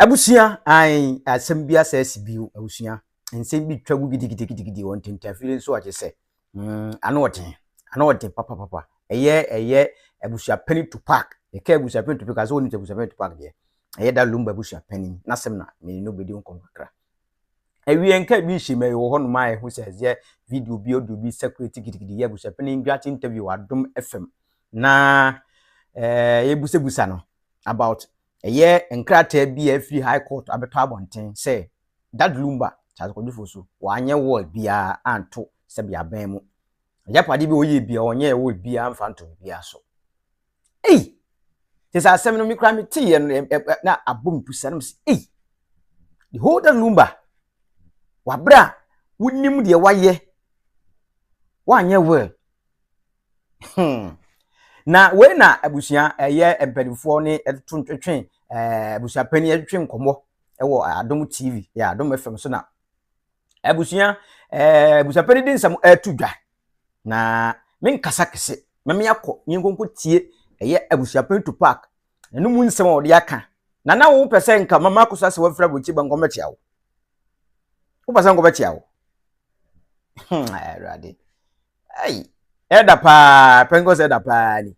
Abusua ae asɛm bi asa asi bio abusua nsɛm bi twa gu gidigidigidi wɔn ntentafiri nso ɔgye sɛ mm ano ɔden ano ɔden papapapa ɛyɛ ɛyɛ abusua panyin tupac ɛka abusua panyin tupac asɛ wɔn abusua panyin tupac deɛ ɛyɛ da lumba abusua panyin n'asɛm na mene no bɛdi nkɔmɔ kakra awie nka bi nhyɛ mu ɛyɛ wɔ hɔ nom a ɛho sɛ ɛyɛ video bi audio bi sakureti gidigidi yɛ abusua panyin dwate interview adom fm na ɛɛ eh, yɛbusabusa no about Ɛyɛ nkrataa bi a afiri High Court abɛtɔ abɔnten sɛ Dad Lumba, Charles Kwadwo Fosu, wanyɛ will biara anto sɛbea abɛn mu. Agyapade bi a ɔyɛɛ biara, ɔnyɛɛ will biara mfa nto biribiara so. Ei! Te sɛ asɛm no, me koraa meteeɛ no, ɛ- ɛ- ɛ- na abɔ me pusa, na mese, ei! The whole Dad Lumba, wabrɛ a, wonim deɛ wayɛ, wanyɛ will. Hmm. Na wei na abusua ɛyɛ mpanimfoɔ ne ɛto ntwetwe ɛɛ abusua panyin ɛtwetwe nkɔmɔ ɛwɔ Adom TV yɛ Adom FM so na abusua ɛɛ abusua panyin de nsɛm ɛto dwa na me nkasa kɛse mɛmi akɔ ne nkonko tie ɛyɛ abusua panyin to park ɛno mu nsɛm a ɔde aka na na wɔn pɛ sɛ nka mama akɔsa sɛ wɔafira bɔ ti ba nkɔmɔ kyia wo wopɛ sɛ nkɔmɔ kyia wo hmm ɛwurade. Hey, ɛda paa pentecost ɛda paa ni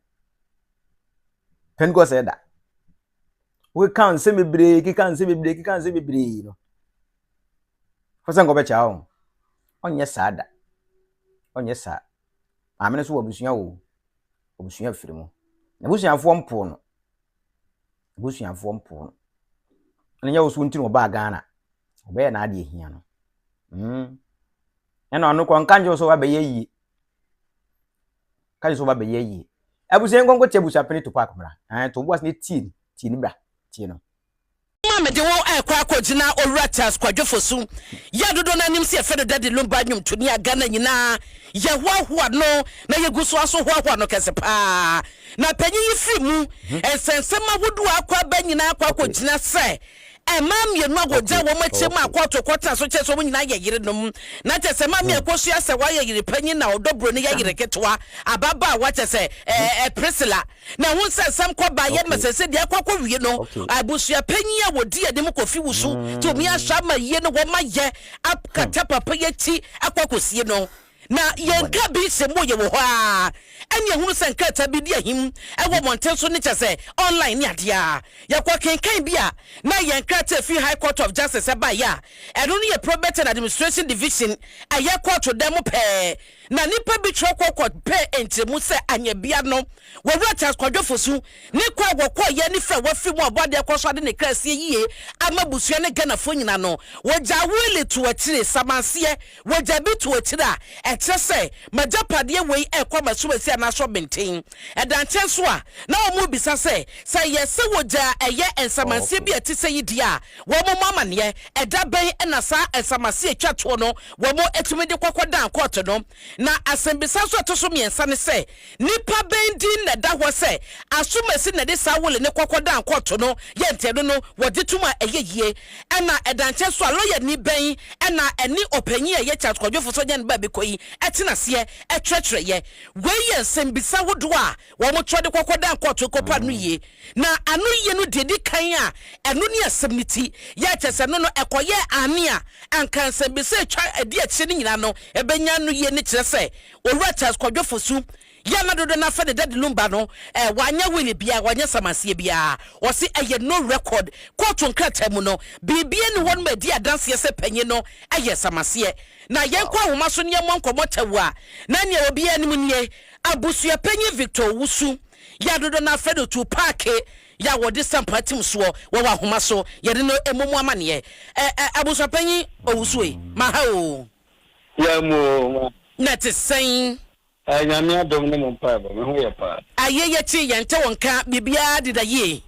pentecost ɛda wokeka nsɛm bebree keka nsɛm bebree keka nsɛm bebree no fo sɛ nkɔbɛkyɛ wo ɔnyɛ saa da ɔnyɛ saa maame no so wɔ abusua wo abusua firi mu na abusuafoɔ mpoo no Abusuafoɔ mpoo no. Ɛna nyɛ wo so nti na ɔbaa Ghana. Ɔbɛyɛ n'adeɛ hia no. Mm. Ɛna ɔno kɔ nka nkyɛw sɛ wabɛyɛ yie. Ka kyerɛ sɛ wabɛyɛ yie. Abusua nkonko te abusua pene to paako mmra. Ɛn to boas ne tie ni. Tie ni bra. Tie no. Ma mede wo ɛkɔ akɔgyina Owura Charles Kwadwo Fosu yɛ dodoɔ no ara nim sɛ yɛfrɛ no Daddy Lumba nnwomtoni a Ghana nyinaa yɛhoahoa no na yɛgu so ara nso hoahoa no kɛse paa. Na panyin yi firi mu nsɛnsɛm ahodoɔ a akɔ aba nyinaa kɔ akɔgyina sɛ mmaa mmienu a wɔgyaa wɔn akyire maa kɔɔto kɔtena so kyerɛ sɛ wɔn nyinaa yɛ yerenom. Na kyerɛ sɛ maame a ɛkɔsua sɛ wayɛ yere panyin na ɔdɔ buroni yɛ yere ketewa, ababaawa kyerɛ sɛ ɛɛ Priscilla. Na ɛho nsɛnsɛm kɔ baeɛ ma sɛsɛ deɛ akɔ akɔwie no, abusua panyin a wɔdi anim kɔfi wusu tumi ahyɛ ama yie no wɔn ayɛ akata papa yi akyi akɔ akɔsie no. Na yɛnka bi sɛ mpo yɛwɔ hɔ ara, ɛne yɛhunu sɛ nkrataa bi di ahim wɔ mmɔnten so ne kyerɛ sɛ online ne adeɛ a yɛkɔkenkan bi a na yɛn krataa a ɛfiri High Court of Justice baeɛ a ɛno no yɛ Probate and Administration Division a ɛyɛ kɔɔto dan mu pɛɛ na nnipa bi twerɛ kɔ kɔ pɛɛ nkyerɛmu sɛ anyɛ bia no Owura Charles Kwadwo Fosu ne kɔ a wɔkɔeɛ ne fɛ wafiri mu a ɔbɔ adeɛ kɔ so ade ne kra asie yie ama abusua ne Ghanafoɔ nyina no wɔgyaa wili to akyire samanseɛ Wagya bi to akyiri a, ɛkyerɛ sɛ m'agyapadeɛ wei rekɔ m'asuwasi anaa asɔrɔbenten. Ɛda nkyɛn nso a, na wɔrebisa sɛ, sɛ ɛyɛ sɛ wɔgya a ɛyɛ nsamanseɛ bi a ɛte sɛyi di a, wɔmmɔ amanneɛ. Ɛda bɛn na saa nsamanseɛ a ɛtwa toɔ no wɔtumi de kɔ kɔdan kɔɔto no? Na asɛmmisa nso a ɛto so mmiɛnsa ne sɛ, Nnipa bɛn din na ɛda hɔ sɛ asomasi na ɛde saa wole ne kɔkɔ dan kɔɔto no yɛ nteɛdo no wɔ gye tom a ɛyɛ yie? Ɛna ɛda nkyɛn so a lɔyani bɛn na ɛne ɔpanyin a ɛyɛ Charles Kwadwo Fosu Agyan-Bɛbekɔ yi tena aseɛ kyerɛkyerɛ yɛ? Wei yɛ nsɛmbisa ahodoɔ a wɔkyerɛ de kɔkɔ dan kɔɔto kɔpɛ anoyie. Na anoyie no deɛ ɛdi kan a ɛno ne asɛm no ti, yɛ a kyerɛ sɛ ɛno no ɛkɔyɛɛ aane a, anka nsɛmbisa a ɛtwa ɛdi akyire no nyinaa no bɛnya anoyie ne kyerɛ sɛ Owura Charles Kwadwo Fosu yɛ a na dodoɔ no ara fɛ ne dadi no mma no, ɛɛ, wanyɛ wili biara, wanyɛ samanseɛ biara. Wɔse ɛyɛ no record. Kootu nkrataa mu no, biribiara nni hɔ no ma ɛdi adanseɛ sɛ panyin no yɛɛ samanseɛ. Na yɛnkɔ ahoma so na yɛmmɔ nkɔmmɔ tɛw a, na nea obiara nim nie, Abusuapanyin Victor Owusu, yɛ a dodoɔ no ara fɛ no tuu paake, yɛ a wɔde sampo atim soɔ wɔ wɔ ahoma so, yɛde no mmɔ mu amanneɛ. Ɛ, ɛ, Abusuapanyin Owusu ei, maha oo. Sia mu oo. Na ɛte sɛn? Ɛɛ Nyame adom ne mo mpaebɔ, me ho yɛ paa. Aye yɛkye yɛn nte wo nka, biribiara deda yie?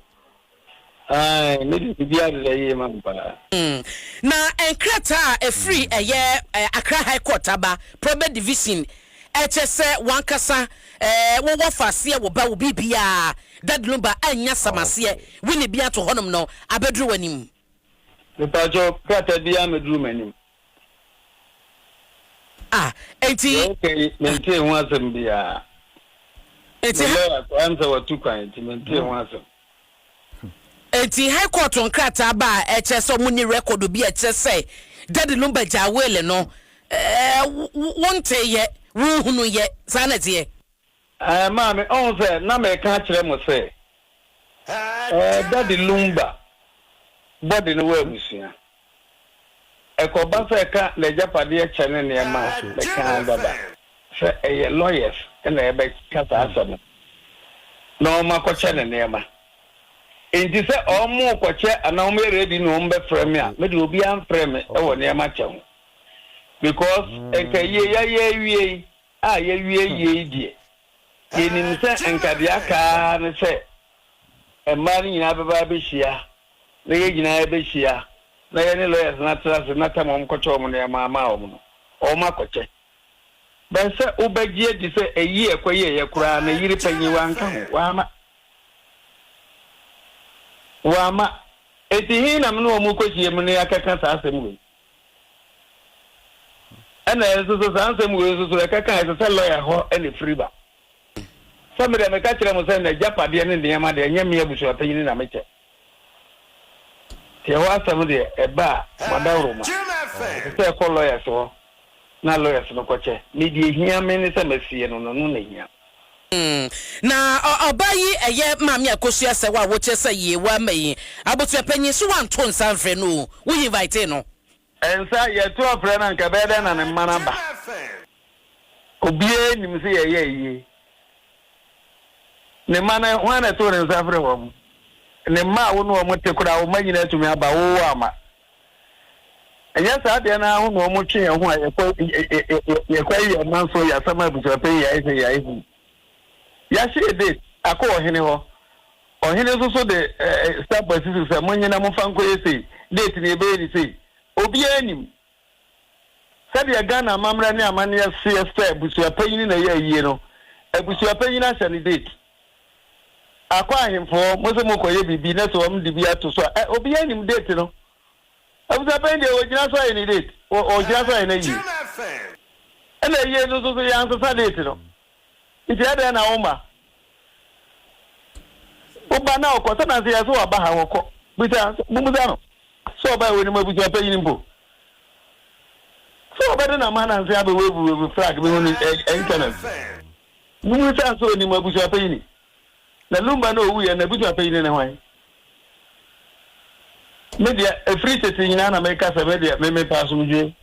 Ae me deɛ biribiara deda yie ma me paa. Mm. Na nkrataa a ɛfiri ɛyɛ Accra High Court aba, Probate Division, ɛkyɛ sɛ w'ankasa ɛɛ wo wɔ fa aseɛ wo ba wo biribiara, Dadlumba annya sam aseɛ, Winnie bi ato hɔnom no abɛduru w'anim? Mepakyɛw, krataa biara mmɛduru m'anim. Ah, enti. Deɛ woka yi, mentee ho asɛm biara. Enti. Me lawyer koraa nsɛ watu kwan, enti mentee ho asɛm. Enti High Court nkrataa ba a ɛkyerɛ sɛ wɔnni record bi a ɛkyerɛ sɛ Daddy no bɛgyaa will no, ɛɛ, wonteeɛ, wonhunuiɛ, saa na ɛteɛ? Eh, maame, ɔho sɛ na meka akyerɛ mo sɛ, eh, Daddy Lumba body no wɔ abusua. Ɛkɔba sɛ ɛka n'agyapadeɛ kyɛ ne nneɛma a, meka ara dada. Sɛ ɛyɛ lawyers na ɛbɛka saa asɛm no, na wɔn akɔkyɛ ne nneɛma. Enti sɛ wɔn rekɔkyɛ anaa wɔn yɛ ready na wɔn bɛfrɛ me a, me deɛ obiara mfrɛ me wɔ nneɛma kyɛ ho. Because nka yie yɛayɛ awie yi, A Yɛawie yei deɛ, yɛnim sɛ anka deɛ aka ara ne sɛ mmaa no nyinaa bɛba abɛhyia, na yɛn nyinaa yɛbɛhyia, na yɛne lawyers no atra ase na tam wɔn kɔkyɛ wɔn nneɛma ama wɔn no, wɔn akɔkyɛ. But sɛ wobɛgye adi sɛ ɛyi a ɛkɔyɛeɛ koraa no yere panyin wanka ho, wamma. Wamma. Enti he na me ne wɔn rekɔhyiam ne yɛakɛka saa asɛm wei? Ɛna nso so saa nsɛm wei nso so ɛkɛka a ɛsɛ sɛ lɔya hɔ na ɛfiri ba. Sɛ me deɛ meka kyerɛ mo sɛ n'agyapadeɛ ne nneɛma deɛ ɛnyɛ me abusuapanyini na mekyɛ. Nti ɛhɔ asɛm deɛ ɛba a mo adaworoma ɛsɛ sɛ ɛkɔ lɔyas hɔ na lɔyas no kɔkyɛ. Me deɛ ɛhia me ne sɛ masie no no, ɛno na ɛhia me. Hmm. Na ɔ ɔbaa yi ɛyɛ maame a kosua sɛ wo a wokyerɛ sɛ yie wo ama yi abusua panyin so wanto nsa nfrɛ no o wo hinvaetee no. Nsa yɛto afrɛ no anka ɛbɛyɛ dɛn na ne mma no aba obiaa nim sɛ yɛyɛ ayie ne mma no hwan na ɛtoo ne nsa frɛ wɔn ne mma a wo ne wɔn te koraa wo mma nyinaa atumi aba wo wo amma. Ɛnyɛ saa deɛ no ara ho na wɔtwe yɛn ho a yɛkɔyɛ yɛn man so yɛ asɛm a abusuapɛn yɛ ayɛ sɛ yɛ ayɛ hu. Yɛahyɛ yɛ date akɔ ɔhene hɔ. Ɔhene nso so de stamp asi so sɛ monyɛ na momfa nkɔyɛ sei, date no yɛbɛyɛ ne sei. Obiara nim. Sɛdeɛ Ghana amammerɛ ne amanneɛ seɛ sɛ abusuapanyin na ɛyɛ ayie no, abusuapanyin ahyɛ ne date. Akɔ ahemfoɔ, mose mokɔyɛ biribi na sɛ wɔn de bi ato so a, ɛ, obiara nim date no. Abusapɛn deɛ ɔgyina so ayɛ ne date, ɔ, ɔgyina so ayɛ no ayie. Ɛna ayie no nso so yɛansesa date no. Nti ɛdɛn na woma woba na ɔkɔ, sɛ na sɛ yɛ sɛ waba ha, ɔkɔ. Bisa, mobusa no sɛ ɔbae wɔ anim abusuapanyin mpo. Sɛ ɔbɛde n'amananse abɛwave wave flag bi ho ne, ɛ, ɛ, internet. Munu sɛ nso onim abusua panyini. Na Lumba no owui ɛ, n'abusua panyini ne hwan? Me deɛ, ɛfiri tete nyinaa na meka sɛ me deɛ, me mepɛ asomdwoeɛ.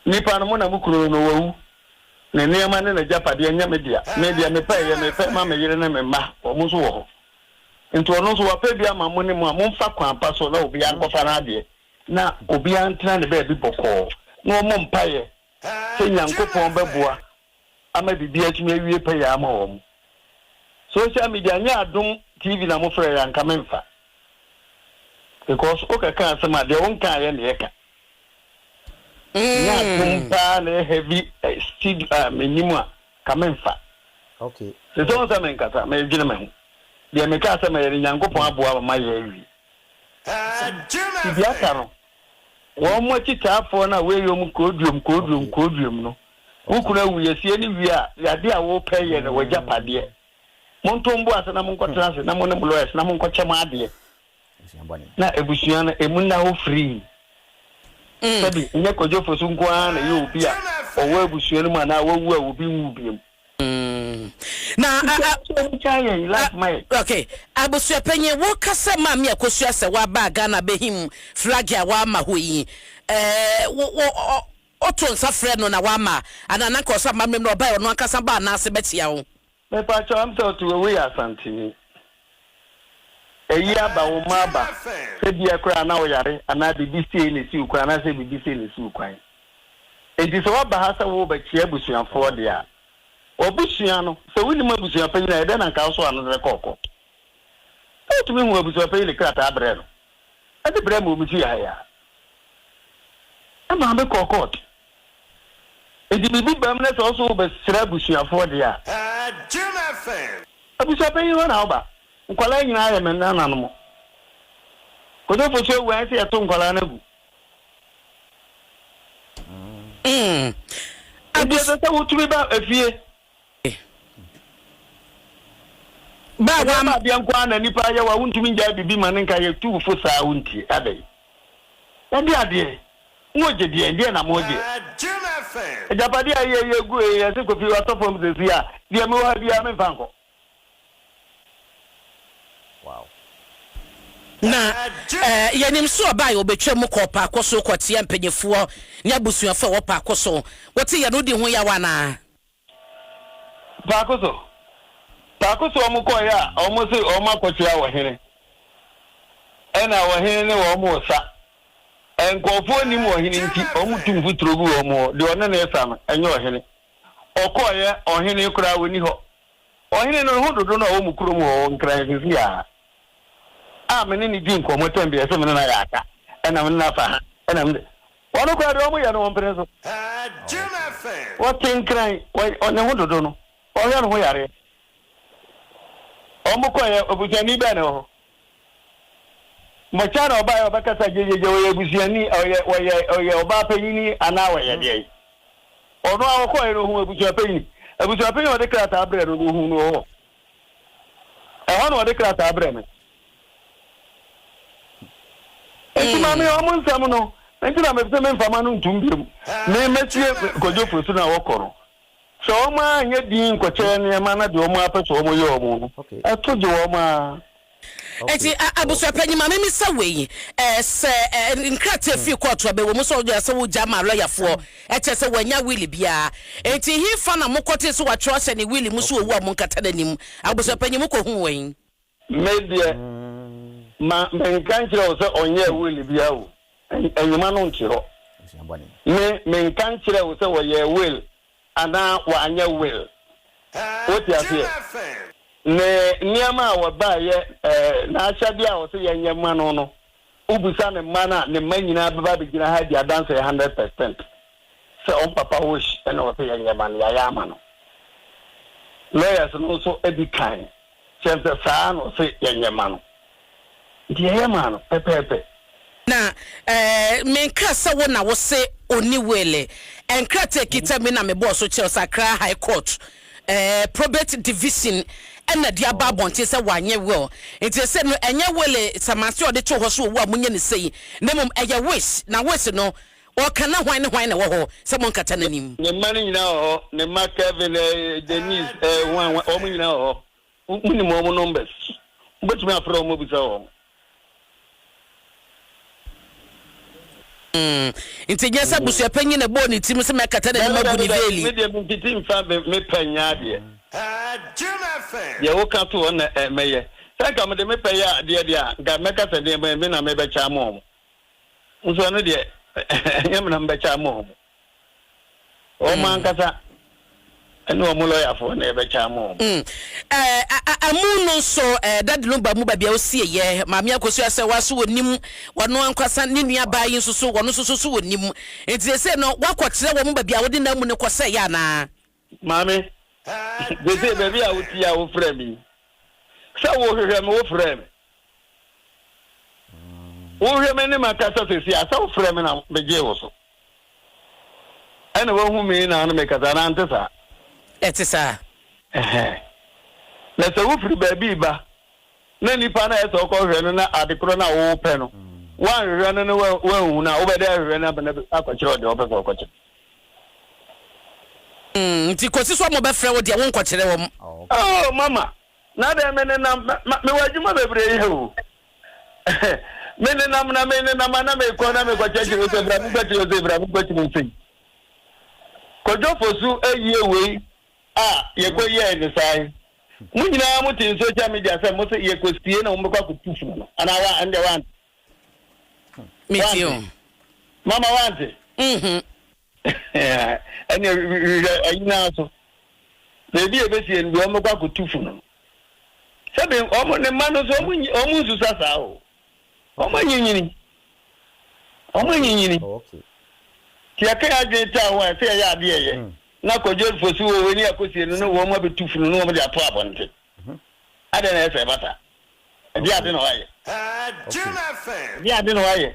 Nnipa no, mo na mo kunu no, no wawu. Ne nneɛma ne n'agyapadeɛ nyɛ me dea. Me deɛ, mepɛ ɛyɛ mepɛ ma me yere ne me mma, wɔn nso wɔ hɔ. Enti ɔno nso, wapɛ bi ama mo ne mo a momfa kwan pa so na obiara nkɔfa n'adeɛ, na obiara ntena ne baabi bɔkɔɔ, na wɔmmɔ mpaeɛ sɛ Nyankopɔn bɛboa ama biribiara atumi awie pɛyɛ ama wɔn. Social media nyɛ adom TV na mo frɛ yɛ a nka me mfa because wo kɛka asɛm a deɛ wo nka ayɛ na ɛka. Nyɛ adom mm. paa na heavy eh, steed a ah, menim a ka me mfa. Okay. Sɛ sɛ wɔn sɛ me nkasa me dwene me ho deɛ meka asɛm a yɛ no Nyankopɔn mm. aboa ma yɛ awie. Sɛ biribi aka no Wɔn akyitaafoɔ no a woyɛ wɔn koodwom koodwom koodwom no, wo kunu awu, yɛsie no wie a, adeɛ a wopɛ yɛ no w'agyapadeɛ. Monto mo bo ase na monkɔtena ase na mo ne mo lawyers na monkɔkyɛ mo adeɛ na abusua no emu nna hɔ firii. Sɛbi, nyɛ Kojo Fosu nko ara na ɛyɛ obi a ɔwɔ abusua no mu anaa wawu a obi nwu biom. Mm. Na a, a, a, okay. Abusuapanyin, woka sɛ maame a kosua sɛ waba Ghana behim flag a wama hɔ yi. Ɛɛ wo wo ɔto nsa frɛ no na wama ana na nka ɔsɛ amammerɛ mu na ɔbaa ɔno ankasa baa anaase bɛkyia wo. Me pa kyɛw am sɛ ɔto wɔ wei asantini. Eyi aba wo mma aba sɛ bia koraa na woyare anaa biribi siei na esi wo kwan anaasɛ biribi sei na esi wo kwan. Enti sɛ woaba ha sɛ worebɛkyea abusuafoɔ deɛ a, w'abusua no, sɛ wonim abusuapanyin a, ɛdɛn na anka wosoa no sɛ kɔ kɔ? Sɛ wotumi hu abusuapanyin de krataa brɛ no, de brɛɛ me wɔ me fie ha yi a, me maame kɔɔ kɔɔt. Enti biribi bam na sɛ wo nso wobɛsra abusuafoɔ deɛ a, abusuapanyin hɔ na woba. Nkwadaa nyinaa yɛ me nananom. Kodofo so awu a, ɛsɛ yɛto nkwadaa no agu. Enti ɛsɛ sɛ wotumi ba efie. Ɛnyɛ baadeɛ nko ara na nipa yɛ wo a wontumi ngyae biribi ma no nka yɛtu wo fo saa wontie adɛn? Ɛnde adeɛ moogye deɛn? Deɛ na moogye? Agyapadeɛ a ɛyɛ yɛ gu ee ɛse Kofi watɔ fam seesei a deɛ mewɔ ha biara memfa nkɔ. Na yɛnim sɛ ɔbaa yɛ ɔbɛtwa mu kɔɔ paako so kɔteɛ mpanimfoɔ ne abusuafoɔ a ɛwɔ paako so. Wote yɛn no di ho yaw anaa? Paako so paako so wɔn kɔɔɛ a wɔn se wɔn akɔkyera ɔhene ɛna ɔhene ne wɔn resa. Nkurɔfoɔ nnim ɔhene nti wɔn tu mfuturo gu wɔn hɔ, deɛ ɔne no resa no ɛnyɛ ɔhene. Ɔkɔɔɛ ɔhene koraa ɔnni hɔ. Ɔhene no ho dodo no a ɔwɔ mo kurom hɔ Nkran sisi a a me ne no di nkɔmmɔ tɛm bi a ɛsɛ me ne no ayɛ aka ɛna me ne no afa ha ɛna me ne Wɔn koraa deɛ wɔyɛ no wɔmpene so. Wɔte nkran, wɔyɛ ne ho dodo no, wɔhwɛ ne ho yareɛ. Wɔkɔeɛ, obusuani bɛn na ɛwɔ hɔ? Mɔkya na ɔbaeɛ ɔbɛkasa gyegyeegye, ɔyɛ abusuani, ɔyɛ, wɔyɛ, ɔyɛ ɔbaa panyini anaa wɔyɛ deɛn? Ɔno a ɔkɔeɛ no, ɔhuu abusuapanyin. Abusuapanyin a ɔde krataa brɛɛ no no, ɔhuu no wɔ hɔ? Ɛhɔ na wɔde krataa brɛ me. Nti ma me wɔn nsɛm no. Nti na mese me mfama no ntom biom. Me mɛtie Kojo Fosu no a wɔkɔ no. Sɛ wɔn ara nyɛ din nkɔkyɛ nneɛma na deɛ wɔn ara pɛ sɛ wɔyɛ wɔn no, ɛto gye wɔn ara. Enti abusuapanyin, ma mimmisa wei, ɛɛ, sɛ ɛɛ nkrataa fi kɔɔto a, bɛwɔ mu sɛ ɔde asɛ wogya maa lɔyafoɔ, ɛkyerɛ sɛ wannya will biara. Enti hefa na mokɔtee sɛ wɔatwerɛ ahyɛ ne will mu sɛ wawu a monkata n'anim? Abusuapanyin, mokɔhuu wɔ he? Me deɛ, ma menka nkyerɛ wo sɛ ɔnyɛɛ will biara o. Ɛ, nhoma no nte hɔ. Me, menka nkyerɛɛ wo sɛ wɔyɛɛ will anaa wɔanyɛ will. Wote aseɛ? Ne nneɛma a wɔbaeɛ, ɛɛ, n'ahyɛdeɛ a ɔse yɛnyɛ mma no no, wobisa ne mma no a, ne mma nyinaa bɛba abɛgyina ha adi adanseɛ hundred percent sɛ wɔn papa Hoshi na ɔse yɛnyɛ mma no, yɛayɛ ama no. Lawyers no nso di kan Sɛ mpɛ saa ara na ɔse yɛnyɛ mma no, nti yɛyɛ maa no pɛpɛɛpɛ. Na menka sɛ wo na wose ɔnni wele. Nkrataa a ɛkita me na mebɔɔ so kyerɛw sɛ Accra High Court Probate Division na de aba abɔnten sɛ wanyɛ will. Nti ɛsɛ no ɛnyɛ wele samanseɛ a ɔde too hɔ sɛ owu a monyɛ no sei, na mmom ɛyɛ wish. Na wish no Ɔka na hwan ne hwan na ɛwɔ hɔ sɛ monkata n'anim? Ne mma no nyinaa wɔ hɔ, ne mma Kevin, Denise, hwan hwan, wɔn nyinaa wɔ hɔ. Wonim wɔn numbers. Wobɛtumi afrɛ wɔn abisa wɔn. Mm, nti nyɛ sɛ abusuapanyin na ɛbɔɔ ne tirim sɛ mɛkata n'anim Dabi, agu dabi, ne dabi. veeli. Me deɛ mentiti mfa me me pɛ nyɛ adeɛ. Deɛ woka to hɔ na ɛ, mɛyɛ. Sɛ anka mede me pɛ yɛ adeɛ deɛ a, anka mɛka sɛ deɛ me me na mebɛkyɛ ama wɔn. Nso ɛno deɛ ɛnyɛ menam bɛkyɛ ama wɔn. Wɔn ankasa ɛne wɔn lɔyafoɔ na ɛbɛkyɛ ama wɔn. Mm. Ɛɛ amu no nso ɛɛ dadi no ba mu baabi a osie yɛ maame akosi asɛ wa so wɔ nim wɔn ankwasa ne nua baa yi nso so wɔn nso so so wɔ nim nti sɛ no wakɔkyerɛ wɔn baabi a wɔde n'amu no kɔsɛ yɛ anaa. Maame, seesei baabi a wote yi a wofrɛ me yi, sɛ wohwehwɛ me, wofrɛɛ me. Wohwɛ me ne makasa seesei a, sɛ wofrɛ me na megyee wo so. Ɛna woahu me na ano mekasa, anaa nte saa? Ɛte saa. Ɛhɛ. Na sɛ wofiri baabi ba, na nipa no a ɛsɛ ɔkɔhwehwɛ no na ade korɔ no a wopɛ no, woanhwehwɛ no na woanhu no a, wobɛda ahwehwɛ no abɛn akɔkyerɛ ɔde ɔpɛ sɛ ɔkɔkyerɛ. Nti kɔsi sɛ ɔmo bɛfrɛ wo deɛ wo nkɔkyerɛ wɔn. Oh mama na dɛn me nenam ma me wɔ adwuma bebree yɛ o me nenam na me nenam ana me kɔ na me kɔ kyɛkyɛ wo sɛ bra me kɔ kyerɛ wo sɛ bra me kɔ kyerɛ wo sɛ kɔdwo fosu ayie wei a yɛ kɔ yɛ ne saa yi mo nyinaa mo te social media sɛ mo sɛ yɛ kɔ sie na mo bɛkɔ akɔ tu funu no ana wa ɛnde wa mete o. mama wante. Mhm. ɛne hwehwɛ anyinaa so baabi a ɛbɛsie no deɛ ɔmɛkɔ akɔtu fo no sɛbi ɔmo ne mma no so ɔmo nsusa saa o ɔmo anyinyini ɔmo anyinyini oh, nti ɛka adwene taa ho a ɛsɛ ɛyɛ adeɛ ɛyɛ hmm. na kɔdwel fosi wɔ wɔ ani akɔsie no ne wɔn abɛtu funu ne wɔn de ato abɔnten mhm. adɛn na ɛsɛ ɛbata Ɛdeɛ ade na wayɛ? Ɛdeɛ ade na wayɛ?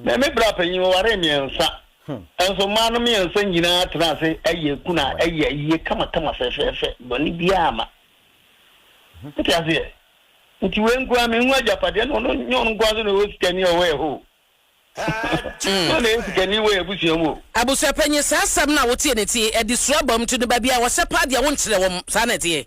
Me me bra panyin wɔwaree mmiɛnsa nso mmaa no mmiɛnsa nyinaa tena ase yɛ ku na ɛyɛ ayie kamakama fɛfɛɛfɛ bɔne biara ma nti aseɛ nti wei nkoa mehu agyapadeɛ no ɔno nyɛ ɔno nkoa so na ɛwɔ sikani a ɔwɔ ɛhɔ na ɔna ɛyɛ sikani wɔ abusua mu abusuapanyin saa asɛm no a woteɛ ne ti ɛde suro abam nti no baabi a wɔhyɛ paa deɛ wonkyerɛ wɔn saa na ɛteɛ.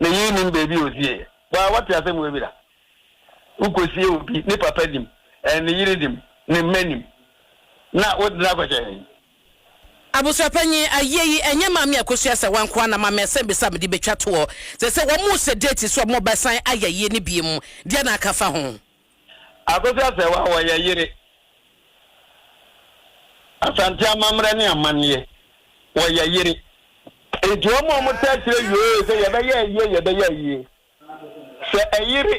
Menyii nnim baabi a ɔsieeɛ. Waa woate asɛm wei bi da? Wokɔsie obi, ne papa nim, ne yere nim, ne mma nim, na wode no akɔhyɛ he? Abusuapanyin, Ayie yi, ɛnyɛ Maame Akosua Asawa nko ara na Maame Asɛmbisa mede bɛtwa toɔ. Te sɛ wɔn rese date so a wɔbɛsan ayɛ ayie no bio mu deɛ na aka afa ho. Akosua Serwaa wɔyɛ yere Asante amammerɛ ne amanneɛ wɔyɛ yere nti wɔn a wɔn taa kyerɛ yoo sɛ yɛbɛyɛ ayie yɛbɛyɛ ayie sɛ ɛyere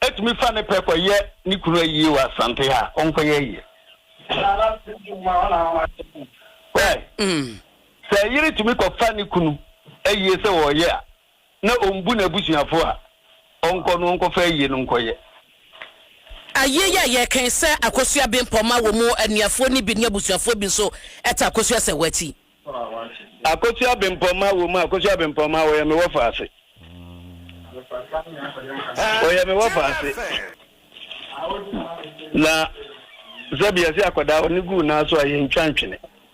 ɛtumi fa ne pɛ kɔ yɛ ne kunu ayie wɔ Asante ha a ɔnkɔ yɛ ayie why sɛ ɛyere tumi kɔ fa ne kunu ayie sɛ wɔyɛ a na ɔmbu n'abusuafoɔ a, ɔnkɔ no ɔnkɔfa ayie no nkɔyɛ. Ayie yi a yɛreka yi, sɛ akosua bempɔ ma wɔn anuafoɔ no bi ne abusuafoɔ bi nso ta akosua sɛ wɔakyi. Akosua bempɔ ma wɔn a, akosua bempɔ ma wɔyɛ me wɔfaase. Wɔyɛ me wɔfaase. Na sɛbi yɛse akwadaa ɔne guu nan so a yɛntwa ntwene.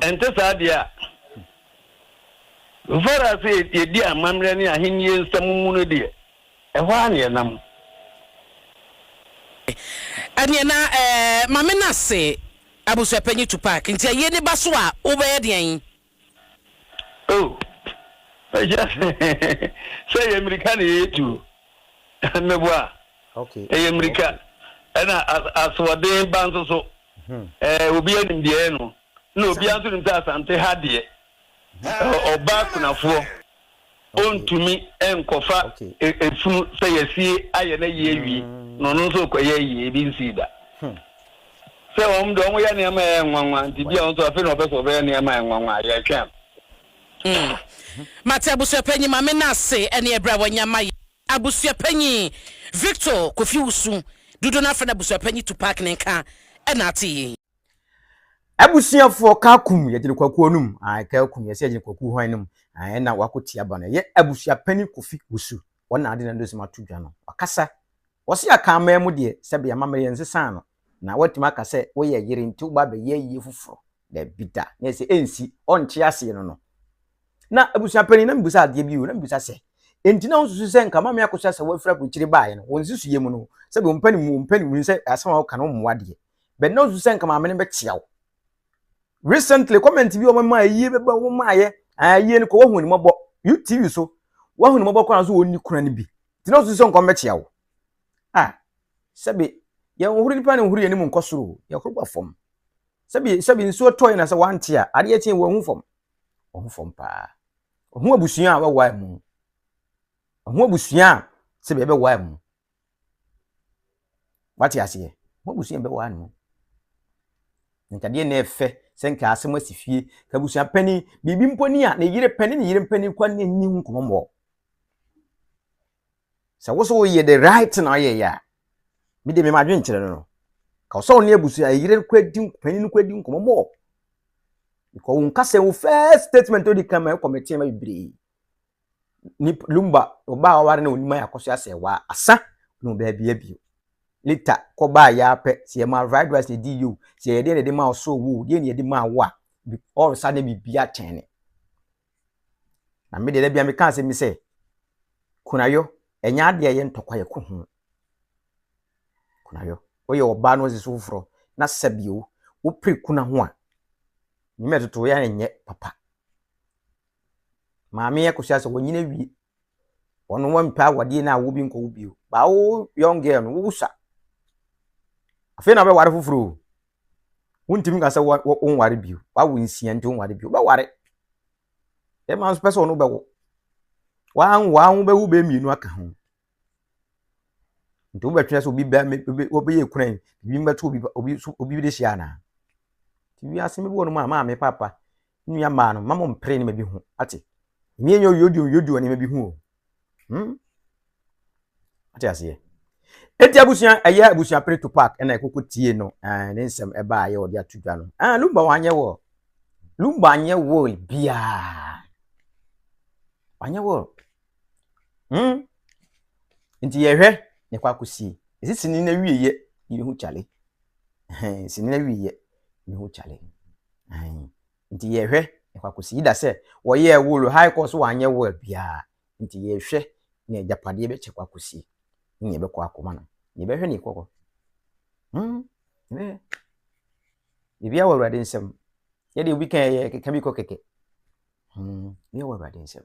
Ɛnte saa deɛ a, mfara sɛ yɛdi amammerɛ ne Ahennie nsɛm mu no deɛ, ɛhɔ ara na yɛnam. Ɛneɛ na ma me nase Abusuapanyin Tupac, nti ayie no ba so a wobɛyɛ deɛn? Oh, mɛhyɛ ase sɛ ɛyɛ mmirika na yɛyɛ tuo, meboa, ɛyɛ mmirika, ɛna asoɔden ba nso so, ho. Obiara nim deɛ ɛyɛ no, na obiara nso nim sɛ Asante ha deɛ, ɔbaa kunafoɔ ɔntumi nkɔfa efunu sɛ yɛasie ayɛ na yie awie, na ɔno nso rekɔyɛ ayie, ebi nsii da. Sɛ wɔn deɛ wɔyɛ nneɛma a ɛyɛ nwanwa, nti bi a wɔn nso afei na ɔpɛ sɛ ɔbɛyɛ nneɛma a ɛyɛ nwanwa, yɛtwɛn. Mate abusuapanyin, Maame Nase, ɛneɛ bra wanya ma yɛn. Abusuapanyin Victor Kofi Wusu Dudu na afei na Abusuapanyin Tupac ne nka na atse yi. Abusuafoɔ Kakum yɛ Gyirikwakuo no mu ae Kakum yɛ sɛ yɛ Gyirikwakuo hwan no mu ae ɛna wako tia ba no ɛyɛ Abusuapanyin Kofi Wusu wɔn na ade na dosem ato dwa no wakasa wɔse aka aman mu deɛ sɛbe amammerɛ nsesaa no na watumi aka sɛ woyɛ yere nti woba abɛyɛ ayie foforo dabi da na ɛsɛ ɛnsi ɔnte aseɛ no no Na abusua panyin, na mibisa adeɛ bi o, na mibisa sɛ, enti na wosusu sɛ nka Mame Akosua sɛ wafiri aburokyire baeɛ no, wo nsusuiɛ mu no, sɛdeɛ ɔmpɛ ne mu, ɔmpɛ ne mu sɛ asɛm a woka no mmoa deɛ, but na wosusu sɛ nka Maame no bɛkyea wo? Recently, comment bi a wɔmaa ayie bɛba wɔn maayɛ, ayie no kɔ wahu ne mmɔbɔ, you TV so, wahu ne mmɔbɔ koraa nso wɔn ni kuna no bi, nti na wosusu sɛ nka ɔmbɛkyea wo? Ah, sɛbe, yɛnhoro nipa na nhoro yɛn anim nkɔ soro o, yɛhoro ba fam. Sɛbe, sɛbe nsuo tɔe na sɛ wante a, adeɛ kye wɔahu fam. wɔn fam paa. Ɔho abusua a wɔbɛwae mu. Ɔho abusua a sɛbea ɛbɛwae mu. Wate aseɛ? Ɔho abusua a ɛbɛwae mu. Nkadeɛ na ɛfɛ sɛ nka asɛm asi fie. Ka abusua panin, biribi mpo ni a ne yere pɛ ne ne yere mpanin kwan ne nni ho nkɔmmɔ mmɔ. sɛ wo so woyɛ the right thing na ɔyɛ yɛ a me de me ma adwen kyerɛ no no ka sɛ ɔne abusua ayere no kɔ adi panyin no kɔ adi nkɔmɔ mɔ because wo nkasa wo first statement odi kan ma ɛkɔ mete ma bebree ni lumba ɔbaa aware na onima yɛ akɔso asɛ wa asa no baabi abio later kɔbaa yɛ apɛ sɛ yɛma fried rice na ɛdi yio sɛ yɛdeɛ na ɛde ma ɔsoro wo deɛ na ɛde ma wo a ɔresa ne biribi atɛne Na me deɛ da bi a meka asɛm bi sɛ kunayɔ ɛnyɛ adeɛ a ɛyɛ ntɔkwa yɛ ko ho kunayɔ woyɛ ɔbaa na ɔsisi foforɔ na sɛbi o wopere kuna ho a nneɛma ɛtoto yɛ a nyɛ papa maame yɛ kɔsi asɛ wɔnyina wie wɔn wɔn mpɛ awadeɛ na awo bi nkɔ wo bio baa wo young girl no wo wusa afei na wobɛware foforɔ o. Wontumi nka sɛ wɔ wɔ wonware bio. Wawo nsia nti wonware bio. Wobɛware. Bɛrima nso pɛ sɛ ɔno bɛwo. Wanwo a wo bɛwo bɛyɛ mmienu aka ho. Nti wobɛtwɛn sɛ obi bɛ me- obi- wobɛyɛ ekuna yi biribi mbɛto obi ba- obi so obi de hyia anaa. Nti wiase no bi wɔ nom a maame papa nua mmaa no mma mo mpere nneɛma bi ho ate. Mmea nyɛ oyodio oyodio nneɛma bi ho o. Hmm? Ate aseɛ? Eti abusua ɛyɛ abusua pere to park ɛna ɛkoko tie no ɛɛ ne nsɛm ɛba ayɛ wɔde ato dwa no ɛɛ ah, lumba wanyɛ wɔ lumba anyɛ wɔ biaa wanyɛ wɔ hmm nti yɛhwɛ ne kɔ akɔsie ɛsi sini na wie yɛ yɛhu kyale ɛhɛn sini na wie yɛ yɛhu kyale ɛhɛn Nti yɛhwɛ nkwa kosi Yida sɛ wɔyɛɛ wool high kɔɔ so wanyɛ wool biaa nti yɛhwɛ ne agyapadeɛ bɛkyɛ kwa kosi ne ne bɛkɔ akoma no ne bɛhwɛ ne kɔkɔ hmm bɛhwɛ bibia wɔ awurade nsɛm yɛde obi kan yɛ keka bi kɔ kɛkɛ hmm bibia wɔ awurade nsɛm